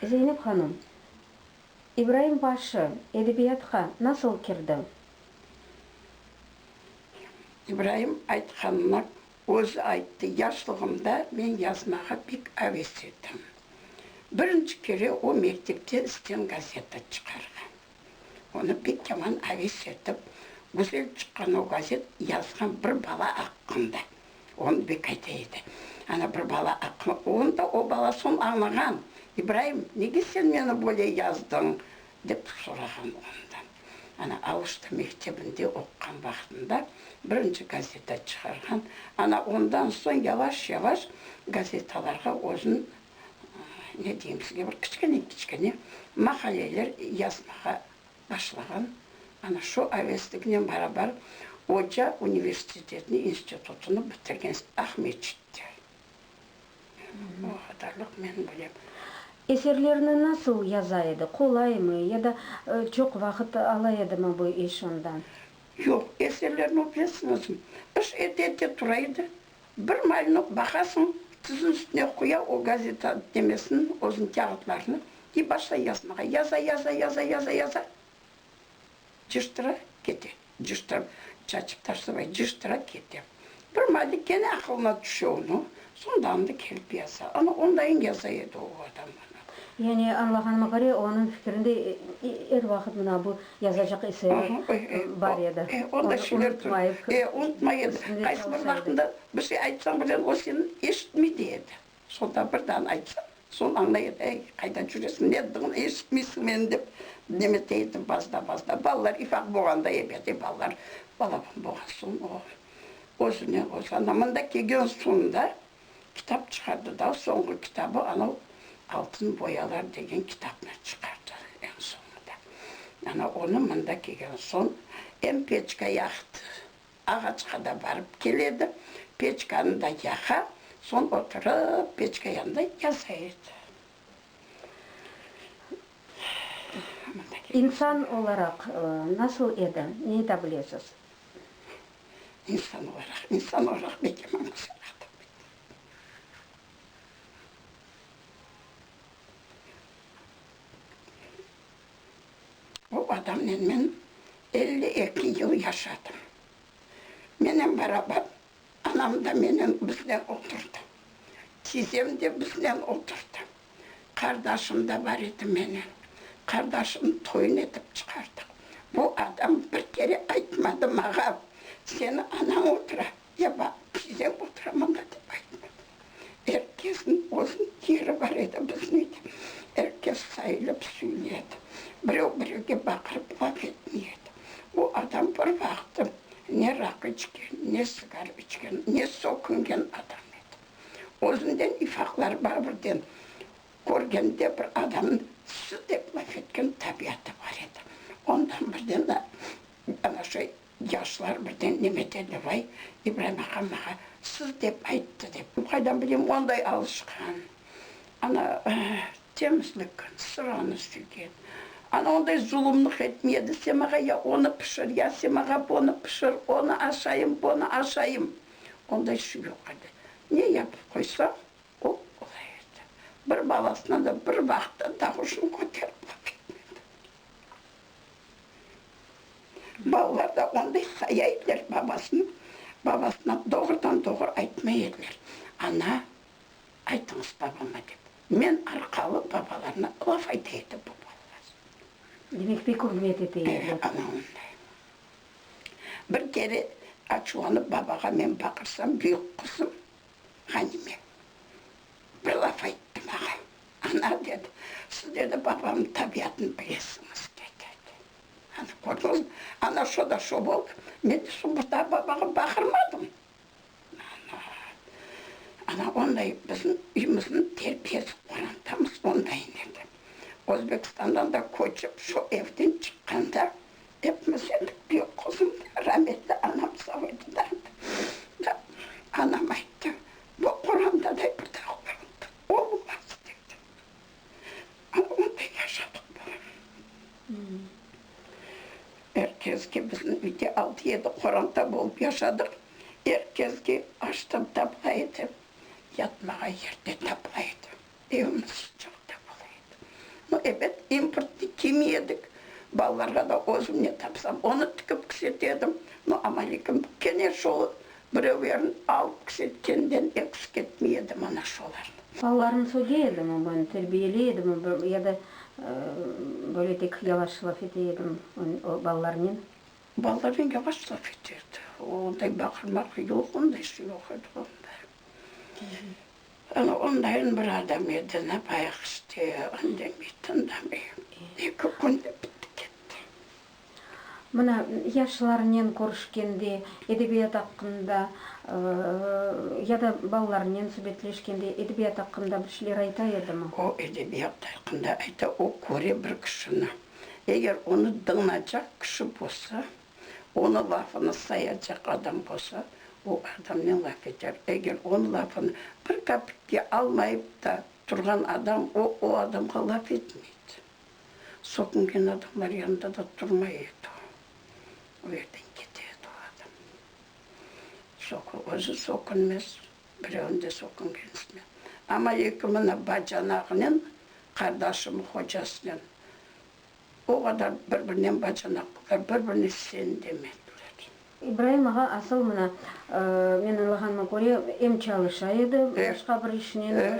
Zeynep hanım, İbraim Başı edebiyatqa nasıl kirdi? İbraim aytqanını özü ayttı, Yaşlığımda men yazmağa pek aves edim. Birinci kere o mektepte İsten gazeta çıqarğan. Onı pek yaman aves etip, güzel çıqqan o gazet, yazğan bir bala aqqında. Onı bek ayta edi. Ana bir bala aqlı onda o bala soñ añlağan, İbraim, nege sen meni böyle yazdıñ? dep sorağan ondan. Ana Auşta mektebinde oqqan vaqtında birinci gazeta çıqarğan. Ana ondan soñ yavaş-yavaş gazetalarğa özün, ne deyim sizge, bir kiçkene-kiçkene maqaleler yazmağa başlağan, ana şu avestliginen barabar oca universitetini, institutını bitirgen Ahmetçitler. O qadarlıq men bilem. Eserlerini nasıl yaza edi? Qolaymı? Ya da çoq vaqıt ala edimi bu iş ondan? Yoq, eserlerini o, bilesiñizmi, iş ete-ete tura edi. Bir malinok baqasıñ, tizin üstüne quya o gazeta demesini, özüniñ kâğıtlarını, i başlay yazmağa. Yaza, yaza, yaza, yaza, yaza, cıştıra kete. Cıştırıp, çaçıp taşlamay, cıştıra kete. Bir mali kene aqılına tüşe onıñ, soñ da anda kelip yaza. Ana, ondayıñ yaza edi o adam. Yani añlağanıma köre, onıñ fikrinde er vaqıt mına bu yazacaq eseri bar edi. E, o da şeyler tur. E, unutmay edi. Qaysı bir vaqtında bir şey aytsañ bile, o seni eşitmey dey edi. Sonda bir dağın aytsañ, soñ añlay edi. Ey, qayda cüresiñ, nedigin eşitmeysiñ meni dep neme dey edi bazda, bazda. Balalar ifaq boğanda, ebet, e, balalar balaban boğan soñ o, özüne, öz anamında kelgen soñda kitap çıqardı da, soñğu kitabı anav Altın boyalar degen kitapnı çıqardı eñ soñunda. Ana onı mında kelgen soñ em peçka yaqtı, ağaçqa da barıp keledi, peçkanı da yaqa, soñ oturıp peçka yanında yaza edi. İnsan olaraq nasıl edi, ne ayta bilesiz? İnsan olaraq, insan olaraq beke manga sorav bermedi. O adamnen men elli eki yıl yaşadım. Menen barabar anam da menen, biznen oturdı. Tizem de biznen oturdı. Qardaşım da bar edi menen. Qardaşımnı toyun etip çıqardıq. Bu adam bir kere aytmadı mağa, seni anañ otura, ya ba tizem otura mında dep aytmadı. Er kesniñ özüniñ yeri bar edi biziñ uyda. Er kes sayılıp suyli edi. Birev birevge baqırıp laf etmey edi. O adam bir vaqıtı ne raq içken, ne sigar içken, ne soqungen adam edi. Özünden ifaqları bar birden körgende bir adamnıñ su dep laf etken tabiatı bar edi. Ondan birden da ana şu yaşlar birden neme dedi, vay, İbraim ağa maña su dep ayttı dep. Qaydan bileyim onday alışqan, ana temizlik, sıranı süygen. Ana onday zulumlıq etmey edi, sen maña ya onı pişir, ya sen maña bunı pişir, onı aşayım, bunı aşayım. Onday suv yoq edi. Ne yapıp qoysañ, o olay edi. Bir balasına da bir vaqıtta dağuşını köterip baqay etmedi. Balalar da onday haya ediler babasını, babasına doğrudan-doğru aytmay ediler. Ana, aytıñız babama dep. Men arqalı babalarına laf ayta edi bu balalar. Demek, pek ürmet ete ediler. Ana onday. Bir kere açuvlanıp babağa men baqırsam, büyük qızım Ğanime bir laf ayttı maña, Ana, dedi, siz, dedi, babamnıñ tabiatını bilesiñiz, dedi. Ana, kördiñizmi? Ana, şo da şo oldı. Men de soñ bir daa babağa baqırmadım. Ana, ana onday bizim üymüzniñ terbiyesi qorantamız ondayn edi. Özbekistandan da köçip şu evden çıqqanda epimiz edik, büyük qızım da, rametli anam sağ edi da. Da anam ayttı, bu Quranda da bir dağ bar, olmaz dedi. Onday yaşadıq bala. Er kezge bizim uyda altı-yedi qoranta bolıp yaşadıq. Er kezge açtan tapla edi, yatmağa yer de tapla edi. Evimiz sıcaqta bola edi. No, ebet, importnı kiymiy edik. Balalarğa da özümnen tapsam, onı tikip kişetedim. No, amma lekin kene şol Birevlerin alıp kisetkenden eksik etmey edim ana şolarnı. Balalarımnı söge edimi men, terbiyeley edimi ya da böyle tek yavaş laf ete edim o balalarnen? Balalarnen yavaş laf ete edi. Onday baqırmaq yoq, onday şey yoq edi onda. Ana ondayen bir adam edi, ne bayaq işte, indemey, tındamay. Eki künde bitti ketti. Mına, yaşlarınen körüşkende, edebiyat aqqında ya da balalarınen subetleşkende edebiyat aqqında bir şeyler ayta edimi? O edebiyat aqqında ayta, o köre bir kişini. Eger onı dıñlacaq kişi bolsa, onı lafını sayacaq adam bolsa, o adamnen laf eter. Eger onı lafını bir kapitke almayıp ta turğan adam, o, o adamğa laf etmeydi. Soqunğan adamlar yanında da turmay edi o. O yerden kete edi o adam. Soqu, özü soqunmez, birevni de soqunğan istemez. Amma eki mına bacanağınen, qardaşımnıñ hocasınen o qadar bir-birinen bacanaq, bir-birini sen demediler. İbraim ağa asıl mına, men añlağanıma köre, em çalışa edi başqa bir işnen,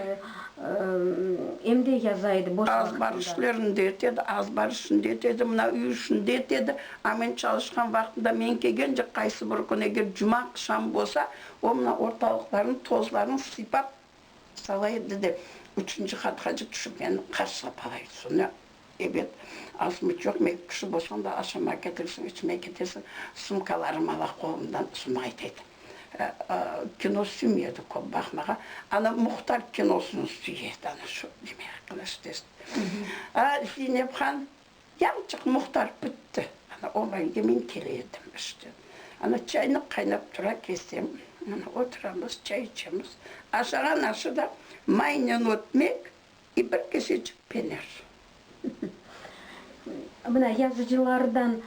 em de yaza edi boş vaqıtında. Az-bar işlerini de etedi, az-bar işini de etedi, mına, üy işini de etedi. A men çalışqan vaqtımda, men kelgence qaysı bir kün, eger cuma aqşamı bolsa, o mına ortalıqlarnıñ tozlarını sıypap, Sala edi de, üçünci qat hacı tüşip meni qarsılap qalay. Soñra, Ebet, asmıç yoq, mekip kişi bolsañ da, aşamağa ketiresiñ, içmege ketesiñ, sumkalarım ala qolumdan, soñra aytaydı, Kino süyme edi, köp baqmağa, ana Muhtar kinosını süy edi, ana şu, demek, qılıç test. Zeynep han. Yalçıq muhtar bitti. Ana oğlanga men kele edim işten. Ana çaynıq qaynap tura kelsem, ana oturamız, çay içemiz. Aşağa naşı da maynen ötmek i bir keseçik pener. Mına yazıcılardan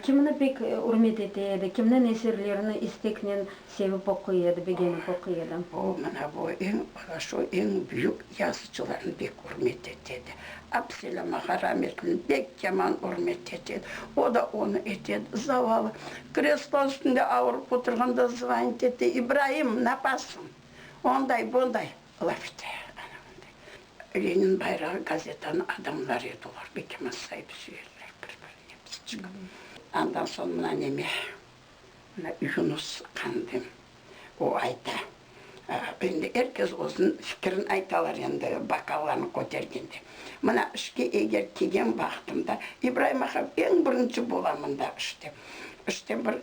kimni pek ürmet ete edi, kimniñ eserlerini isteknen Sevip oquy edi, begenip oquy edi. O, mına bu eñ horaşo, eñ büyük yazıcılarnı bek ürmet etedi. Absele Mahorametli bek yaman ürmet etedi. O da onı etedi. Zavalı, kreslo üstünde avırıp oturğanda zvanit ete, İbraim, napasıñ? Onday, bunday laf ete. Ana bunday. Lenin bayrağı gazetanıñ adamları edi olar. Bek yaman sayıp-süyerler bir-birine. Andan soñ mına neme. Yunus Qandın. O ayta, endi er kes özüniñ fikirini aytalar endi, bokallarnı kötergende. Mına işke eger kelgen vaqtımda, İbraim ağa, eñ birinci bolamın da işte. İşte bir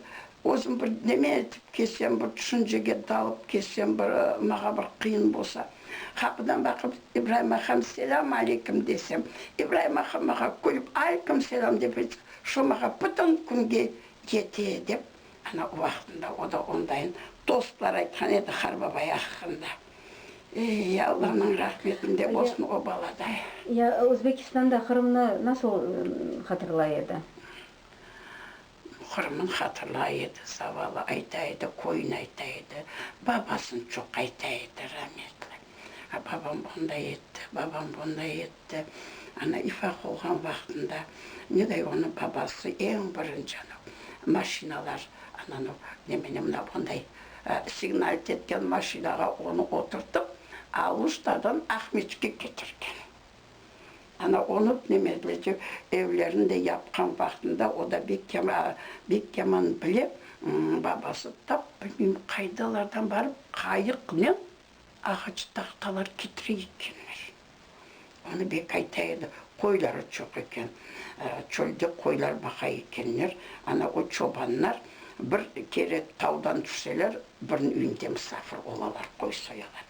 özüm bir neme etip kelsem, bir tüşüncege dalıp kelsem, bir mağa bir qıyın bolsa, qapıdan baqıp, İbraim aqam, selâm aleykim desem, İbraim ağa mağa külip, Aleykim selâm dep aytsa, şu mağa bütün künge Kete, dep, ana, o vaqtında o da ondayın tostlar aytqan edi Qar babay aqqında. Ey, Allanıñ rahmetinde olsun o bala da. Ya, Özbekistanda Qırımnı nasıl hatırlay edi? Qırımnı hatırlay edi, zavallı, ayta edi, köyün ayta edi, babasın çoq ayta edi, rametli. A, babam bunday etti, babam bunday etti. Ana, ifaq olğan vaqtında, neday onıñ babası eñ birinci anau maşinalar, ana, anau nemeni, mına bunday signal ketken maşinağa onı oturtıp, Aluştadan Aqmescitke ketirgen. Ana, onı Tnemezlece evlerini de yapqan vaqtında, o da bek yama, bek yaman bile, babası tap bilmeyim qaydalardan barıp, qayıqnen Ağaç tahtalar titrey ekkenler. Onı bek ayta edi. Qoyları çoq eken. Çölde qoylar baqa ekenler. Ana o çobanlar bir kere tavdan tüşseler, biriniñ üyünde musafir olalar, qoy soyalar.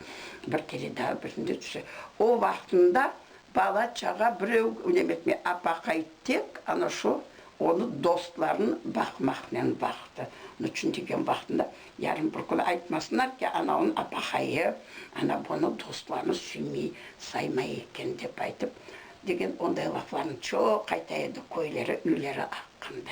Bir kere daa birinde tüşse. O vaqtında bala çağa birev nem etmey. Apaqay tek ana şu onı dostlarını baqmaqnen baqtı. Nıçün degen vaqtında Yarın bir kün aytmasınlar ki, anavnı apahayı, ana bunı dostlarını süymey, saymay eken, dep aytıp, degen onday laflarnı çoq ayta edi, köyleri, üyleri aqqında.